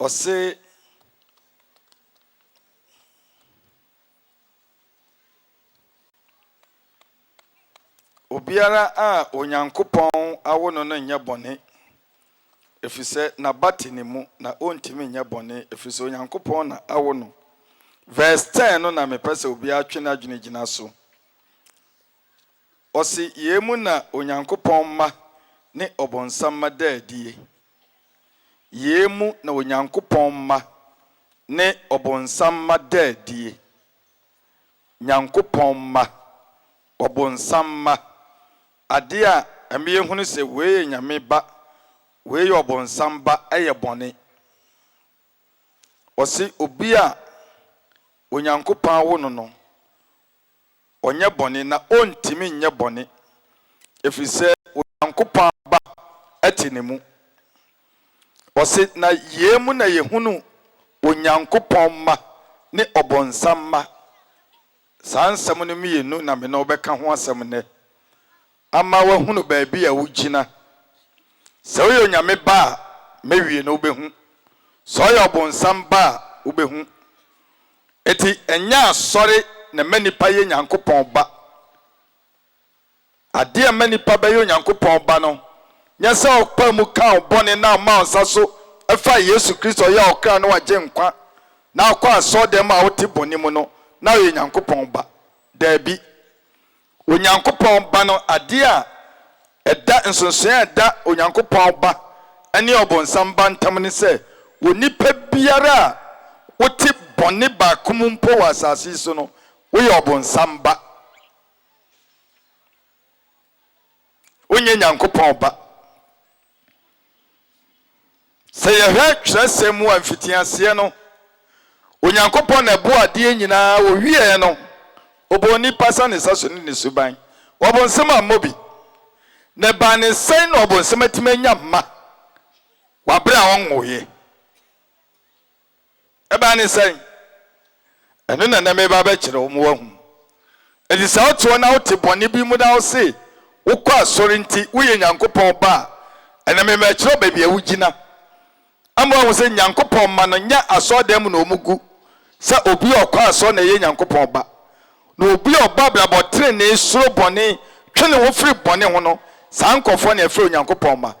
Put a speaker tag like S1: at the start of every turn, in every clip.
S1: Ɔse obiara a Onyankopɔn awo no no nyɛ bɔne, ɛfiri sɛ n'aba te ne mu, na ɔntumi nyɛ bɔne, ɛfiri sɛ Onyankopɔn na awo no. Verse 10 no na mepɛ sɛ obiara twe n'adwene gyina so. Ɔse yei mu na Onyankopɔn mma ne ɔbonsam mma da adie. Yei mu na Onyankopɔn mma ne ɔbonsam mma da adie. Nyankopɔn mma. Ɔbonsam mma. Adeɛ a ɛma yɛhunu sɛ wei yɛ Nyame ba, wei yɛ ɔbonsam ba yɛ bɔne. Ɔse obi a Onyankopɔn awo no no, ɔnyɛ bɔne na ɔntumi nyɛ bɔne, ɛfiri sɛ Onyankopɔn ba te ne mu. Ɔse, Na yei mu na yɛhunu Onyankopɔn mma ne ɔbonsam mma. Saa nsɛm no mmienu na me ne wo bɛka ho asɛm nnɛ. Ama woahunu baabi a wugyina. Sɛ ɔyɛ Onyame ba a, mɛwie no, wobɛhu. Sɛ ɔyɛ ɔbonsam ba a, wobɛhu. Enti ɛnyɛ asɔre na ɛma nnipa yɛ Nyankopɔn ba. Adeɛ a ɛma nnipa bɛyɛ Onyankopɔn ba no, nyɛ sɛ ɔpaa mu kaa wo bɔne na ɔmaa wo nsa so faa Yesu Kristo a ɔyɛ wo kra ne w'agyenkwa na wokɔ asɔɔdɛm a wote bɔne mu no na woyɛ Nyankopɔn ba. Daabi. Onyankopɔn Ba no ade a ɛda nsonsonoe a ɛda Onyankopɔn Ba ne Ɔbonsam ba ntam ne sɛ onipa biara a wote bɔne baako mu mpo wɔ asase yi so no, woyɛ Ɔbonsam ba. Wonyɛ Nyankopɔn ba. Sɛ yɛhwɛ twerɛsɛm mu a, mfitiaseɛ no, Onyankopɔn na ɛbɔɔ adeɛ nyinaa, ɔwieɛ no, ɔbɔɔ nipa sane sa so ne ne suban. Ɔbonsam ammɔ bi. Na ɛbaa ne sɛn na ɔbonsam atumi anya mma wɔ aberɛ a ɔnwoeɛ? Ɛbaa ne sɛn? Ɛno na na mereba abɛkyerɛ wo ma woahu. Enti sɛ wote hɔ na wote bɔne bi mu na wose wokɔ asɔre nti woyɛ Nyankopɔn ba a, ɛnɛ mema ɛkyerɛ wo baabi a wugyina. Ama woahu sɛ Nyankopɔn mma no, nyɛ asɔredan mu na wɔgu sɛ obi a ɔkɔ asɔre na ɛyɛ Nyankopɔn ba. Na obi a ɔbɔ abrabɔ trenee, suro bɔne, twe ne ho firi bɔne ho no, saa nkurɔfoɔ na yɛfrɛ Onyankopɔn mma.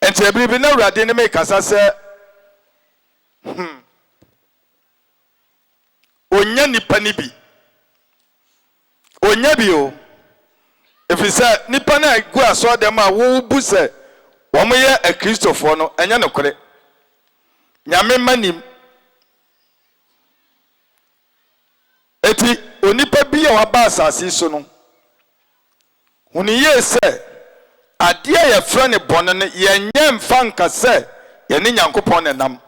S1: Enti ɛbere bi na Awurade ne me kasa sɛ, Hmm, ɔnnya nnipa no bi. Ɔnnya bi o. Ɛfiri sɛ nnipa no a ɛgu asɔɔdɛm a wobu sɛ wɔyɛ Akristofoɔ no, ɛnyɛ nokorɛ. Nyame mma nim. Enti onipa bi a waba asase so no, Hu no yie sɛ, adeɛ a yɛfrɛ no bɔne no, yɛnyɛ mfa nka sɛ yɛne Nyankopɔn na ɛnam.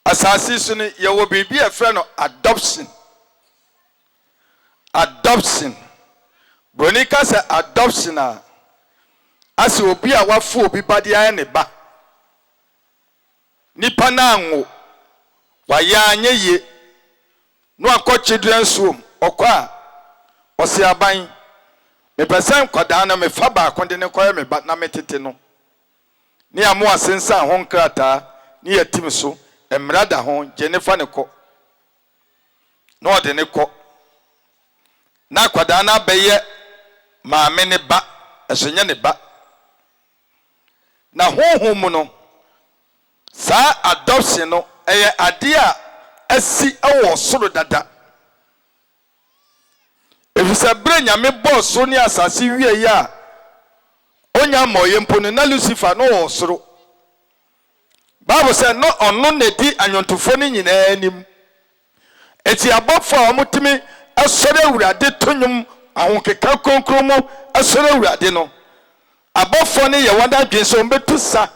S1: Asase yi so no, yɛwɔ biribi a yɛfrɛ no adoption. Adoption. Buroni ka sɛ adoption a, asɛ obi a wafa obi ba de ayɛ ne ba. Nipa no anwo, wayɛ anyɛ yie, na wakɔ children nsuom, ɔkɔ a, ɔse aban, mepɛ sɛ nkwadaa no mefa baako de no kɔyɛ me ba na metete no. Ne yɛamo asensan ho nkrataa ne yɛatim so mmara da ho gye ne fa no kɔ. Na ɔde no kɔ. Na akwadaa no abɛyɛ maame no ba, nso nyɛ ne ba. Na honhom mu no, saa adoption no, ɛyɛ adeɛ a asi wɔ soro dada. Ɛfiri sɛ berɛ Nyame bɔɔ soro ne asase wieeɛ a ɔnya mmɔeɛ mpo no, na Lucifer na ɔwɔ soro. Bible sɛ na ɔno na ɛdi anwontofoɔ no nyinaa anim Enti abɔfo a wɔtumi sɔre Awurade to nnwom ahokeka kronkron mu sɔre Awurade no, abɔfo no yɛ wɔn adwene sɛ wɔbɛtu sa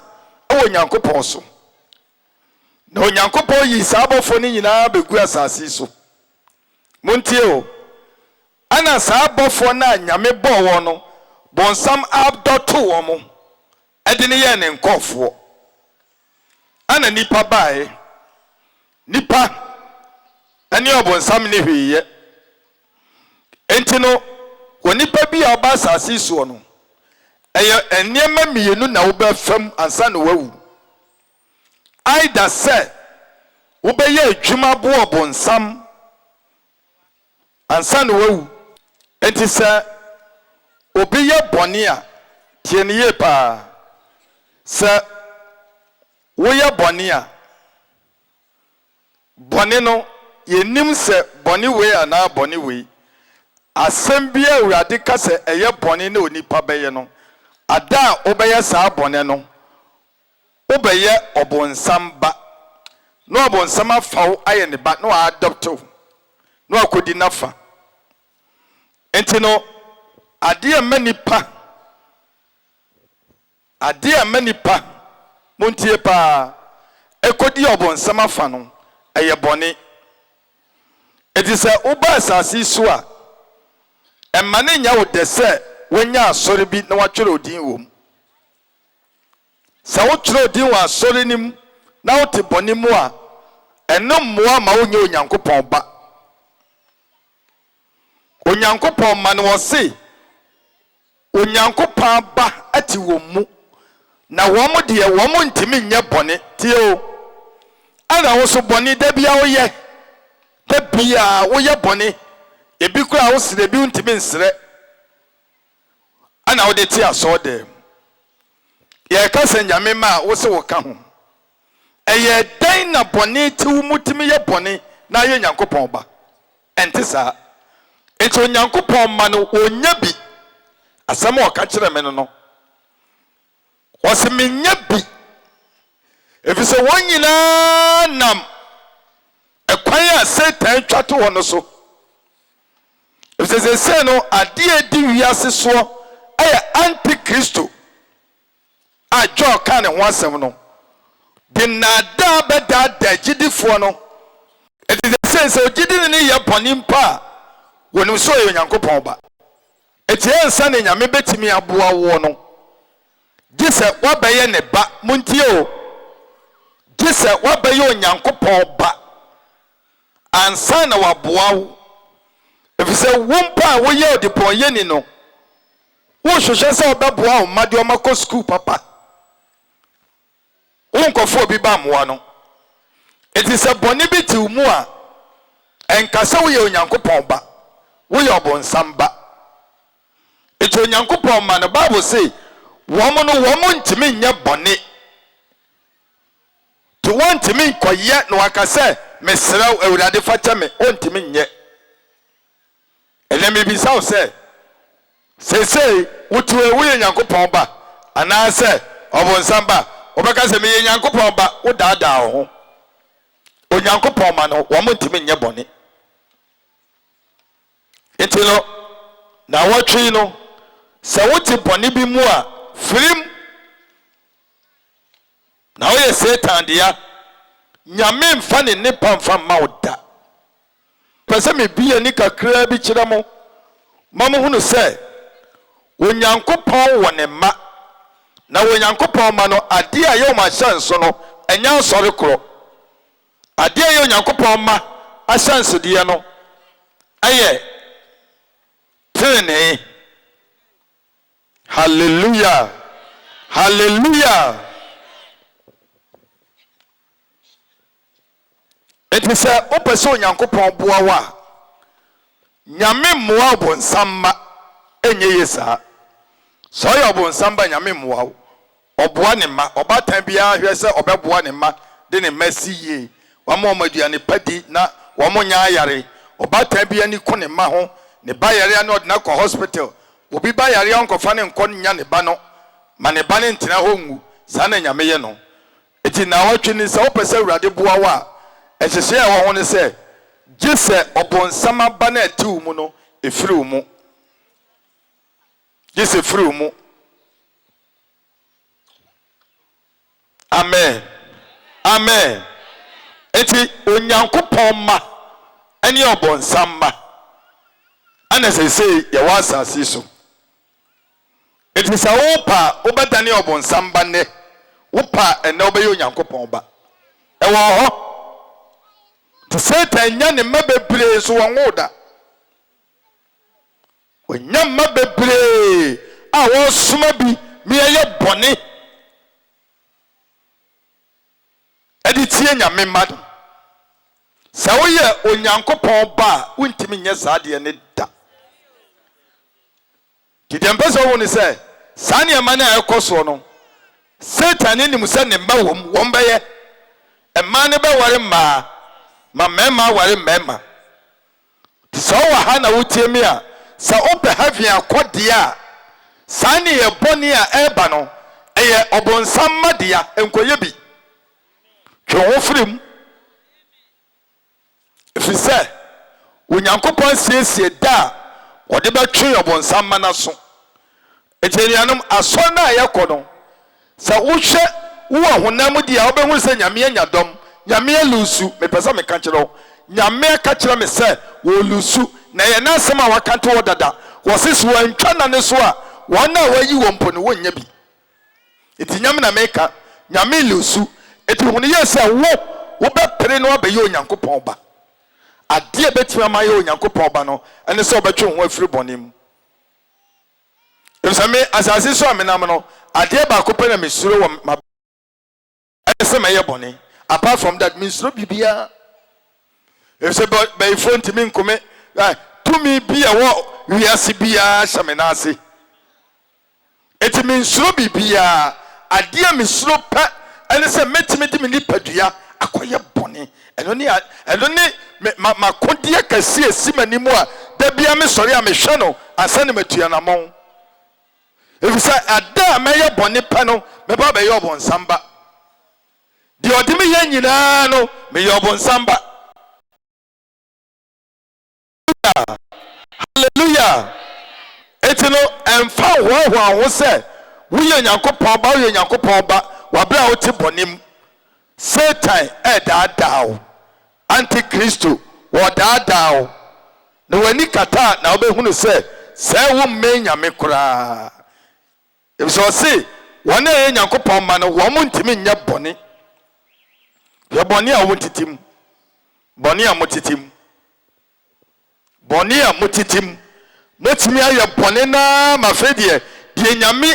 S1: wɔ Onyankopɔn so. Na Onyankopɔn yii saa abɔfo no nyinaa bɛgu asase so. Montie o, ɛna saa abɔfo no a Nyame bɔɔ wɔn no, bonsam abdɔ too wɔn. Ɛde no yɛɛ ne nkɔɔfoɔ. Ɛna nnipa baaɛ. Nnipa ne ɔbonsam nni hwee yɛ. Enti no, onipa bi a ɔba asaase yi soɔ no, ɛyɛ nneɛma mmienu na wobɛfa mu ansa na wawu. Either sɛ wobɛyɛ adwuma aboa ɔbonsam, ansa na wawu. Enti sɛ obi yɛ bɔne a, tie no yie paa. Sɛ woyɛ bɔne a, bɔne no, yɛnnim sɛ bɔne wei anaa bɔne wei, asɛm bi a Awurade ka sɛ ɛyɛ bɔne na onipa bɛyɛ no, ada a wobɛyɛ saa bɔne no, Wobɛyɛ ɔbonsam ba, na ɔbonsam afa wo ayɛ ne ba, na wa adopt wo, na wakɔdi n'afa. Nti no, adeɛ a ɛma nipa, adeɛ a ɛma nipa, montie paa, ɛkɔdi ɔbonsam afa no, ɛyɛ bɔne. Nti sɛ woba asase yi so a, ɛmma no nyɛ wo dɛ sɛ woanya asɔre bi na woatwerɛ wo din wɔ mu. Sɛ wokyerɛw din wɔ asɔre no mu na wote bɔne mu a, ɛno mmoa mma wonyɛ Onyankopɔn ba. Onyankopɔn mma no, ɔse, Onyankopɔn aba te wɔn mu, na wɔn deɛ, wɔn ntumi nyɛ bɔne. Tie o, ɛna wo nso bɔne da biara woyɛ, da biara woyɛ bɔne, ebi koraa wosrɛ, ebi wontumi nsrɛ. na wode te asɔɔdɛm. Yɛreka sɛ Nyame mma a wose woka ho. Ɛyɛɛ dɛn na bɔne te wo mu tumi yɛ bɔne na ayɛ Nyankopɔn ba? Ɛnte saa. Enti Onyankopɔn mma no wɔnnya bi. Asɛm a ɔka kyerɛɛ me no no. Ɔse mennya bi. Efisɛ wɔn nyinaa nam ɛkwan a Satan twa to hɔ no so. Efisɛ seesei no, ade a edi wiase soɔ yɛ antikristo a Joel kaa ne ho asɛm no de nnaadaa bɛdaadaa agyidifoɔ no. Enti seesei sɛ ogyidini no yɛ bɔne mpo a, wɔnim sɛ ɔyɛ Onyankopɔn ba. Enti ansa na Nyame bɛtumi aboa woɔ no, gye sɛ woabɛyɛ ne ba. Montie o, gye sɛ woabɛyɛ Onyankopɔn ba. ansa na waboa wo, efisɛ wo mpo a woyɛ ɔdebɔneyɛni no, wohwehwɛ sɛ ɔbɛboa wo mma de wɔn akɔ sukuu papa. Wonkɔfa obi ba mmoa no. Enti sɛ bɔne bi te wo mu a, ɛnka sɛ woyɛ Onyankopɔn ba, woyɛ ɔbonsam ba. Enti Onyankopɔn mma no, Bible se wɔn no wɔn ntumi nyɛ bɔne. Nti wɔntumi nkɔyɛ na waka sɛ mesrɛ wo Awurade fa kyɛ me, ɔntumi nyɛ. Ɛnɛ mebisa wo sɛ, seesei wote hɔ yi woyɛ Nyankopɔn ba anaasɛ ɔbonsam ba? Wobɛka sɛ meyɛ Nyankopɔn ba, wodaadaa wo ho. Onyankopɔn ma no wɔn ntumi nyɛ bɔne. Nti no, na wɔtwe yi no, sɛ wote bɔne bi mu a, firim. Na woyɛ Satan dea. Nyame mfa ne nnepa mfa mma wo da. Mepɛ sɛ mebue m'ani kakraa bi kyerɛ mo ma mohunu sɛ Onyankopɔn wɔ Ne mma, na wɔ Onyankopɔn mma no, adeɛ a ɛyɛ wɔn ahyɛnso no, ɛnyɛ asɔre korɔ. Adeɛ a ɛyɛ Onyankopɔn mma ahyɛnsodeɛ no yɛ tenenee. Hallelujah Hallelujah Enti sɛ wopɛ sɛ Onyankopɔn boa wo a, Nyame mmoa ɔbonsam mma ɛnyɛ yie saa. Sɛ ɔyɛ ɔbonsam ba a, Nyame mmoa wo. Ɔboa ne mma. Ɔbaatan biara hwɛ sɛ ɔbɛboa ne mma de ne mma asi yie, wama wɔn aduane pa di na wɔannya ayare. Ɔbaatan bi ani ku ne mma ho, ne ba yare a na ɔde no akɔ hospital. Obi ba yare a ɔnkɔfa no nkɔ nnya ne ba no ma ne ba no ntena hɔ nwu. Saa na Nyame yɛ no. Enti nnawɔtwe ni sɛ wopɛ sɛ Awurade boa wo a, nhyehyɛe a ɛwɔ ho ne sɛ, gye sɛ ɔbonsam aba no a ɛte wo mu no firi wo mu. Gye sɛ ɛfiri wo mu. amen amen eti onyankopɔn mma ɛne ɔbɔnsam mma ɛna sesei yɛwɔ asase so eti sɛ wopa a wobɛdane ɔbɔnsam ba nnɛ wopa a ɛnɛ wobɛyɛ onyankopɔn ba ɛwɔ hɔ nti satan nya ne mma bebree nso wɔn wo da Wɔanya mma bebree a wɔresoma bi ma yɛayɛ bɔne de tie Nyame mma no. Sɛ woyɛ Onyankopɔn ba a, wontumi nyɛ saa adeɛ no da. Nti deɛ mpɛ sɛ wohu ne sɛ, saa nneɛma no a ɛrekɔ soɔ no, Satan no nim sɛ ne mma wɔ mu, wɔbɛyɛ. Mmaa no bɛware mmaa, ma mmarima aware mmarima. Nti sɛ wowɔ ha na wotie me a, sɛ wopɛ heaven akɔ deɛ a, saa nneyɛɛ bɔne a ɛreba no, ɛyɛ ɔbonsam mma dea, nkɔyɛ bi. Twe wo ho firi mu. Ɛfiri sɛ Onyankopɔn asiesie da a wɔde bɛtwe ɔbonsam ma no aso. Enti anuanom, asɔre no a yɛkɔ no, sɛ wohwɛ wo ɔhonam mu deɛ a, wobɛhunu sɛ Nyame anya dɔm. Nyame alusu. Mepɛ sɛ meka kyerɛ wo, Nyame aka kyerɛ me sɛ wɔrelusu. Na ɛyɛ N'asɛm a Waka to hɔ dada. Wɔse sɛ wɔantwa Nane so a, wɔn a wɔayi wɔn mpo no, wɔnnya bi. Enti Nyame na meka, Nyame le osu. Enti hunu yie sɛ wo, wobɛpere no abɛyɛ Onyankopɔn ba. Adeɛ a ɛbɛtumi ama ayɛ Onyankopɔn ba no, ɛne sɛ wobɛtwe wo ho afiri bɔne mu. Efisɛ me, asase so a menam no, adeɛ baako pɛ na mesuro wɔ m'abrabɔ. Ɛyɛ sɛ mɛyɛ bɔne. Apart from that, mensuro biribiara. Efisɛ bɛ bɛyifoɔ ntumi nko me. Ɛ tumi bi a ɛwɔ wiase biara hyɛ me nan ase. Enti mensuro biribiara. Adeɛ a mesuro pɛ ne sɛ mɛtumi de me nipadua akɔyɛ bɔne. Ɛno ne a ɛno ne me ma m'akodeɛ kɛseɛ a ɛsi m'anim a da biara mesɔre a mehwɛ no ansa na matua anammɔn. Efisɛ ɛda a mɛyɛ bɔne pɛ no, mɛba abɛyɛ ɔbonsam ba. Deɛ ɔde me yɛ nyinaa no, meyɛ ɔbonsam ba. Hallelujah! Enti no, ɛmfa nhoahoa wo ho sɛ woyɛ Onyankopɔn ba, woyɛ Onyankopɔn ba wɔ berɛ a wote bɔne mu. Satan redaadaa wo, antikristo, wɔredaadaa wo, na w'ani kata a na wobɛhunu sɛ sɛɛ wommɛn Nyame koraa, efisɛ ɔse wɔn a ɛyɛ Nyankopɔn mma no wɔn ntumi nyɛ bɔne. Hwɛ bɔne a wɔtete mu, bɔne a motete mu. Bɔne a motete mu. Motumi ayɛ bɔne no ara ma afei deɛ, deɛ Nyame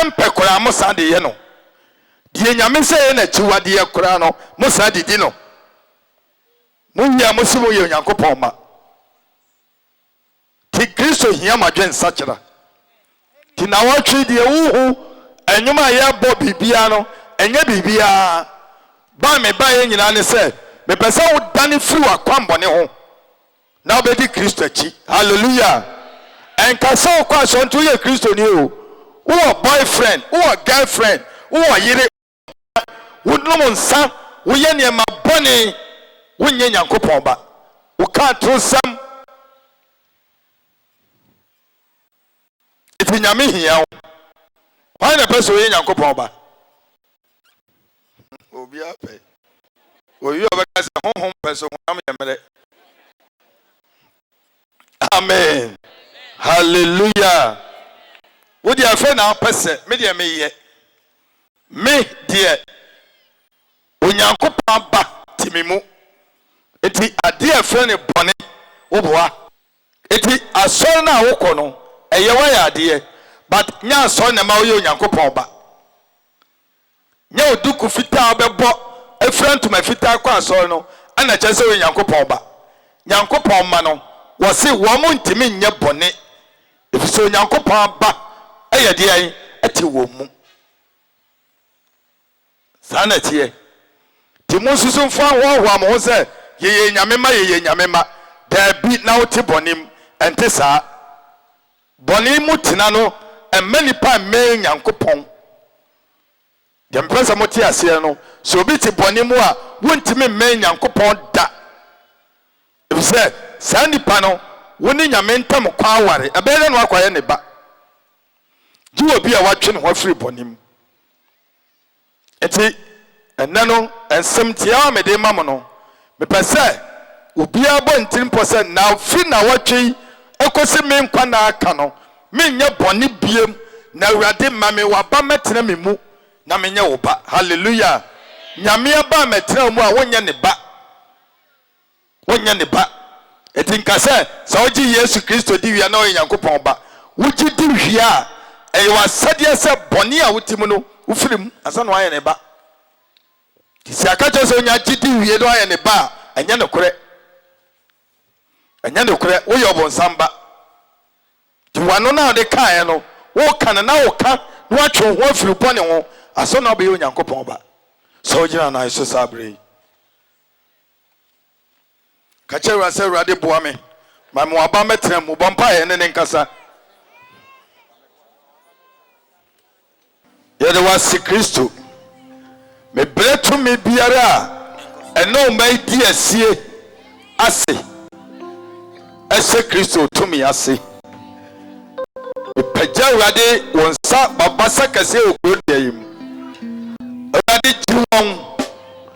S1: mpɛ koraa mosan de yɛ no. Deɛ Nyame sɛ ɛyɛ n'akyiwadeɛ koraa no, mosan de di no. Mowie a mose moyɛ Onyankopɔn mma. Te Kristo hia mo adwene nsakyera. Nti nawɔtwe deɛ wohu ɛnwom a yɛbɔ biribiara no ɛnyɛ biribiara ba a mebaeɛ nyinaa ne sɛ mepɛ sɛ wodane firi w'akwammɔne ho na wobɛdi Kristo akyi hallelujah ɛnka sɛ wokɔ asɔre nti woyɛ Kristoni o wowɔ boyfriend wowɔ girlfriend wowɔ yere wonom nsa, woyɛ nneɛma bɔne, wonyɛ Nyankopɔn ba, woka atorosɛm. Nti Nyame hia wo. Hwan na ɛpɛ sɛ ɔyɛ Nyankopɔn ba? Obiara pɛ. Obi a ɔbɛka sɛ honhom pɛ so, honam yɛ mmerɛ. amen hallelujah wo deɛ afei na wopɛ sɛ me deɛ meyɛ me deɛ onyankopɔn aba te me mu nti adeɛ a ɛfrɛ no bɔne woboa nti asɔre no a wokɔ no ɛyɛ woayɛ adeɛ but nyɛ asɔre na ɛma woyɛ onyankopɔn ba Nyɛ wo duku fitaa a wobɛbɔ afira ntoma fitaa akɔ asɔre no na ɛkyerɛ sɛ woyɛ Nyankopɔn ba. Nyankopɔn mma no, wɔse wɔn ntumi nyɛ bɔne, efisɛ Onyankopɔn aba yɛ deɛn? Ɛte wɔn mu. Saa na ɛteɛ. Nti monsusu mfa nhoahoa mo ho sɛ yɛyɛ Nyame mma, yɛyɛ Nyame mma. Daabi, na wote bɔne mu. Ɛnte saa. Bɔne mu tena no mma nnipa mmɛn Nyankopɔn. Deɛ mepɛ sɛ mote aseɛ no, sɛ obi te bɔne mu a, wontumi mmɛn Nyankopɔn da. Efisɛ saa nnipa no, wo ne Nyame ntam kwan aware. Ɛbɛyɛ dɛ na wakɔayɛ ne ba. Gye obi a watwe ne ho afiri bɔne mu. Enti, ɛnnɛ no nsɛm tiaa a mede rema mo no, mepɛ sɛ obiara bɔ ne tirimpɔ sɛ nnawɔtwe nnawɔtwe yi kosi me nkwa nna aka no, merenyɛ bɔne bio, na Awurade, ma me w'aba mmɛtena me mu, na menyɛ wo ba. Hallelujah! Nyame aba a mɛtena wo mu a wonyɛ ne ba. wonyɛ ne ba. Enti nka sɛ, sɛ wogye Yesu Kristo di wie a, na woyɛ Nyankopɔn ba. Wogye di wie a, ɛyɛ w'asɛdeɛ sɛ bɔne a wote mu no, wofiri mu ansa na woayɛ ne ba. Nti sɛ yɛaka kyerɛ sɛ wonya agye di wie na woayɛ ne ba a, ɛnyɛ nokorɛ. Ɛnyɛ nokorɛ, woyɛ ɔbonsam ba. Nti w'ano no a wode kaeɛ no, woka no na woka na woatwe wo ho afiri wo bɔne ho, ansa na wobɛyɛ Onyankopɔn ba. Sɛ wogyina nan so saa berɛ yi. Ka kyerɛ Awurade sɛ, Awurade boa me ma me waba mmɛtena mu. Bɔ mpaeɛ ɛne ne nkasa. Yɛde wase Kristo. Mebrɛ tumi biara a ɛne ɔma yi di asie ase. Ɛhyɛ Kristo tumi ase. Mepagya Awurade wɔn nsa babasa kɛseɛ wɔ kuro deɛ yi mu. Awurade gye wɔn.